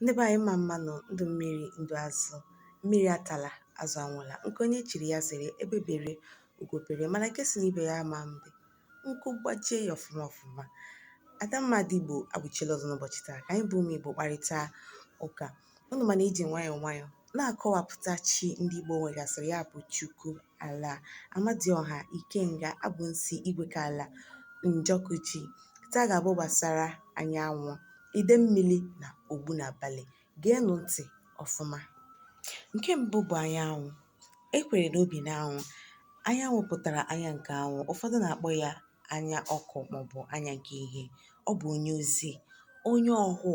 ndị be anyị mma mma nụ ndụ mmiri ndụ azụ mmiri atala azụ anwụla nke onye chiri ya zere egbe bere ugo bere mana nke sị na ibe ya ama mbe nku gbajie ya ọfụma ọfụma adamma ndị igbo abụchila ọzọ n'ụbọchị taa ka anyị bụ ụmụ igbo kparịta ụka ụnụ ma na e ji nwayọọ nwayọọ na-akọwapụta chi ndị Igbo nwegasịrị ya bụ Chukwu, Ala, Amadioha, Ikenga, Agwụnsị, Igwekala, Njọkụji. Taa ga-abụ gbasara anyanwụ, Idemmili na Ogbunabali. Geenụ ntị ọfụma. Nke mbụ bụ anyanwụ. E kwere na o bi n'anwụ. Anyanwụ pụtara anya nke anwụ. Ụfọdụ na-akpọ ya anya ọkụ maọbụ anya nke ihe. Ọ bụ onye ozi, onye ọhụụ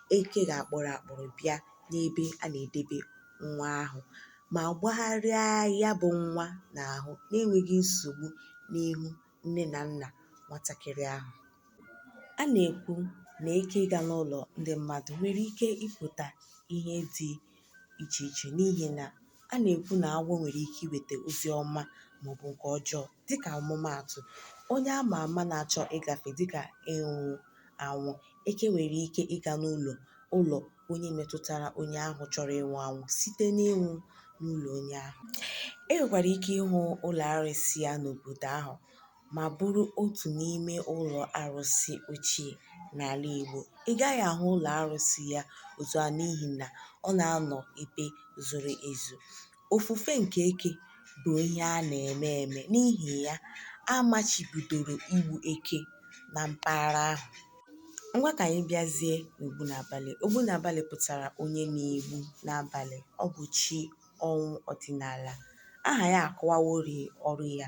eke ga-akpụrụ akpụrụ bịa n'ebe a na-edebe nwa ahụ ma gbagharịa ya bụ nwa n'ahụ na-enweghị nsogbu n'ihu nne na nna nwatakịrị ahụ. A na-ekwu na eke ịga n'ụlọ ndị mmadụ nwere ike ịpụta ihe dị iche iche n'ihi na a na-ekwu na agwọ nwere ike iweta ozi ọma maọbụ nke ọjọọ dịka ọmụmaatụ onye a ma ama na-achọ ịgafe dịka ịnwụ anwụ eke nwere ike ịga n'ụlọ ụlọ onye metụtara onye ahụ chọrọ ịnwụ anwụ site n'ịnwụ n'ụlọ onye ahụ e nwekwara ike ịhụ ụlọ arụsị ya n'obodo ahụ ma bụrụ otu n'ime ụlọ arụsị ochie n'ala Igbo. Ị gaghị ahụ ụlọ arụsị ya otu a n'ihi na ọ na-anọ ebe zoro ezo. Ofufe nke eke bụ ihe a na-eme eme n'ihi ya a machibidoro igbu eke na mpaghara ahụ. Ngwa ka anyị bịazie n'Ogbunabali. Ogbunabali pụtara onye na-egbu n'abalị. Ọ bụ chi ọnwụ ọdịnala. Aha ya akọwaworị ọrụ ya.